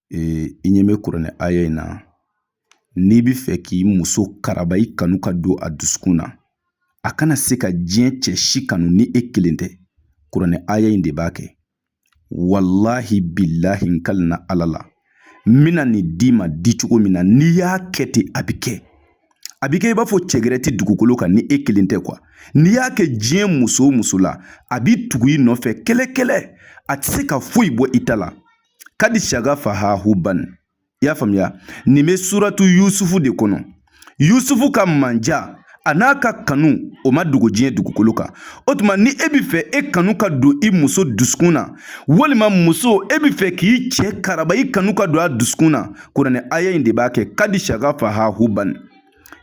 i ɲɛ bɛ kuranɛ aya in na n'i bɛ fɛ k'i muso karaba i kanu ka don a dusukun na a kana se ka diɲɛ cɛ si kanu ni e kelen tɛ kuranɛ aya in de b'a kɛ walahi bilahi n kalina ala la n bɛna nin d'i ma di cogo min na n'i y'a kɛ ten a bɛ kɛ a bɛ kɛ i b'a fɔ cɛ gɛrɛ tɛ dugukolo kan ni e kelen tɛ kuwa n'i y'a kɛ diɲɛ muso o muso la a b'i tugu i nɔfɛ kɛlɛ kɛlɛ a tɛ se ka foyi bɔ i ta la kadi sagafaha huban i y'a faamuya nin bɛ suratu yusufu de kɔnɔ yusufu ka mandiya an'a ka kanu o ma dogo diɲɛ dugukolo kan o tuma ni e bɛ fɛ e kanu ka don i muso dusukun na walima muso e bɛ fɛ k'i cɛ karaba i kanu ka don a dusukun na kuranɛ aya in de b'a kɛ kadi sagafaha huban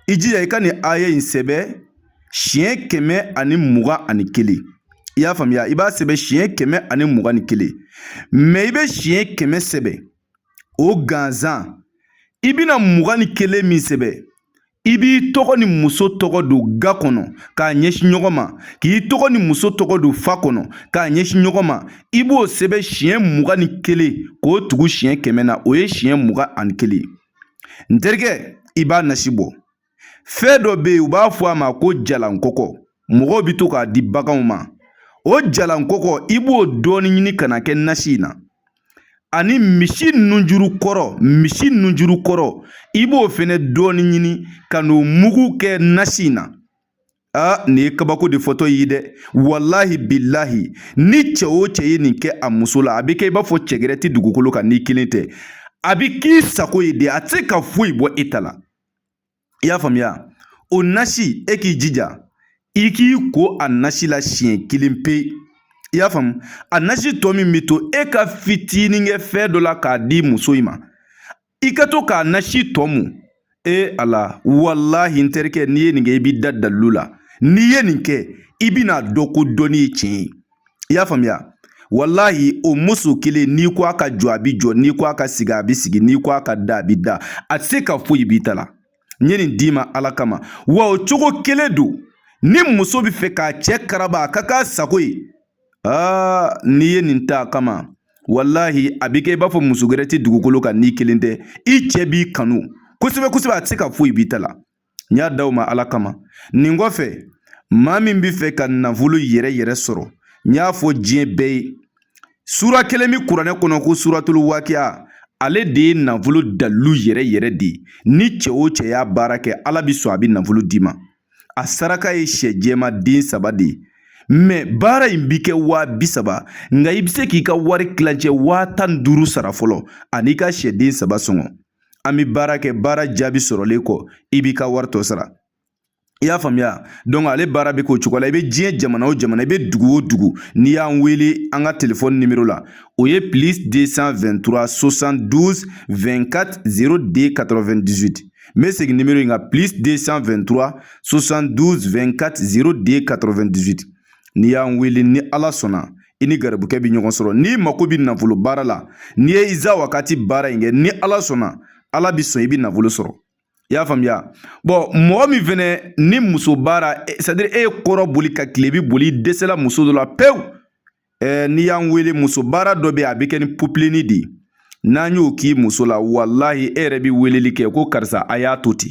i jija i ka nin aya in sɛbɛn siɲɛ kɛmɛ ani mugan ani kelen i y'a faamuya i b'a sɛbɛn siɲɛ kɛmɛ ani mugan ni kelen mɛ i bɛ siɲɛ kɛmɛ sɛbɛn o gansan i bɛna mugan ni kelen min sɛbɛn i b'i tɔgɔ ni muso tɔgɔ don ga kɔnɔ k'a ɲɛsin ɲɔgɔn ma k'i tɔgɔ ni muso tɔgɔ don fa kɔnɔ k'a ɲɛsin ɲɔgɔn ma i b'o sɛbɛn siɲɛ mugan ni kelen k'o tugu siɲɛ kɛmɛ na o ye siɲɛ mugan ani kelen ye n terikɛ i b'a nasi bɔ fɛn dɔ bɛ yen u b'a fɔ a ma ko jalankɔkɔ mɔgɔw bɛ to k'a di baganw ma o jalankɔkɔ i b'o dɔɔnin ɲini ka n'a kɛ nasi in na ani misi nunjuru kɔrɔ misi nunjuru kɔrɔ i b'o fɛnɛ dɔɔnin ɲini ka n'o mugu kɛ nasi in na a nin ye kabako de fɔtɔ ye dɛ walahi bilahi ni cɛ o cɛ ye nin kɛ a muso la a bɛ kɛ i b'a fɔ cɛ gɛrɛ tɛ dugukolo kan n'i kelen tɛ a bɛ k'i sago ye de a tɛ se ka foyi bɔ e ta la i y'a faamuya o nasi e k'i jija i k'i ko a nasi la siɲɛ kelen pe i y'a faamu a nasi tɔ min bɛ to e ka fitinin kɛ fɛn dɔ la k'a di muso in ma i ka to k'a nasi tɔ mun e a la walahi n terikɛ n'i ye nin kɛ i b'i da dalilu la n'i ye nin kɛ i bɛn'a dɔn ko dɔnni ye tiɲɛ ye i y'a faamuya walahi o muso kelen n'i ko a ka jɔ a bi jɔ n'i ko a ka sigi a bi sigi n'i ko a ka da a bi da a tɛ se ka foyi b'i ta la n ye nin d'i ma ala kama wa o cogo kelen don ni muso bɛ fɛ k'a cɛ karaba a ka k'a sago ye aa n'i ye nin ta a kama walahi a bɛ kɛ i b'a fɔ muso gɛrɛ tɛ dugukolo kan n'i kelen tɛ i cɛ b'i kanu kosɛbɛ kosɛbɛ a tɛ se ka foyi b'i ta la n y'a d'aw ma ala kama nin kɔfɛ maa min bɛ fɛ ka nafolo yɛrɛ yɛrɛ sɔrɔ n y'a fɔ diɲɛ bɛɛ ye sura kelen bɛ kuranɛ kɔnɔ ko suratulu wakiya ale de ye nafolo dalilu yɛrɛ yɛrɛ de ye ni cɛ o cɛ y'a baara kɛ ala bɛ sɔn a bɛ nafolo d'i ma a saraka ye sɛ jɛma den saba de ye mɛ baara in bi kɛ waa bi saba nka i bɛ se k'i ka wari kilancɛ waa tan ni duuru sara fɔlɔ an'i ka sɛden saba sɔngɔ an bɛ baara kɛ baara jaabi sɔrɔlen kɔ i b'i ka wari tɔ sara i y'a faamuya dɔnki ale baara bɛ k'o cogo la i bɛ diɲɛ jamana o jamana i bɛ dugu o dugu n'i y'an wele an ka telefɔni nimoro la o ye plus deux cent vingt-trois soixante-douze vingt-quatre zéro deux quatre-vingt-dix-huit n bɛ segin nimoro in kan plus deux cent vingt-trois soixante-douze vingt-quatre zéro deux quatre-vingt-dix-huit n'i y'an wele ni ala sɔnna i ni garibukɛ bɛ ɲɔgɔn sɔrɔ n'i mako bɛ nafolo baara la n'i ye iza wakati baara in kɛ ni ala sɔnna ala bɛ sɔn i bɛ nafolo sɔrɔ i y'a faamuya bɔn mɔgɔ min fɛnɛ ni muso baara sadiri e ye kɔrɔn boli ka kilebi boli i dɛsɛla muso dɔ la pewu ɛɛ n'i y'an wele muso baara dɔ bɛ a bɛ kɛ ni popilenni de ye n'an y'o k'i muso la walahi e yɛrɛ bɛ weleli kɛ ko karisa a y'a to ten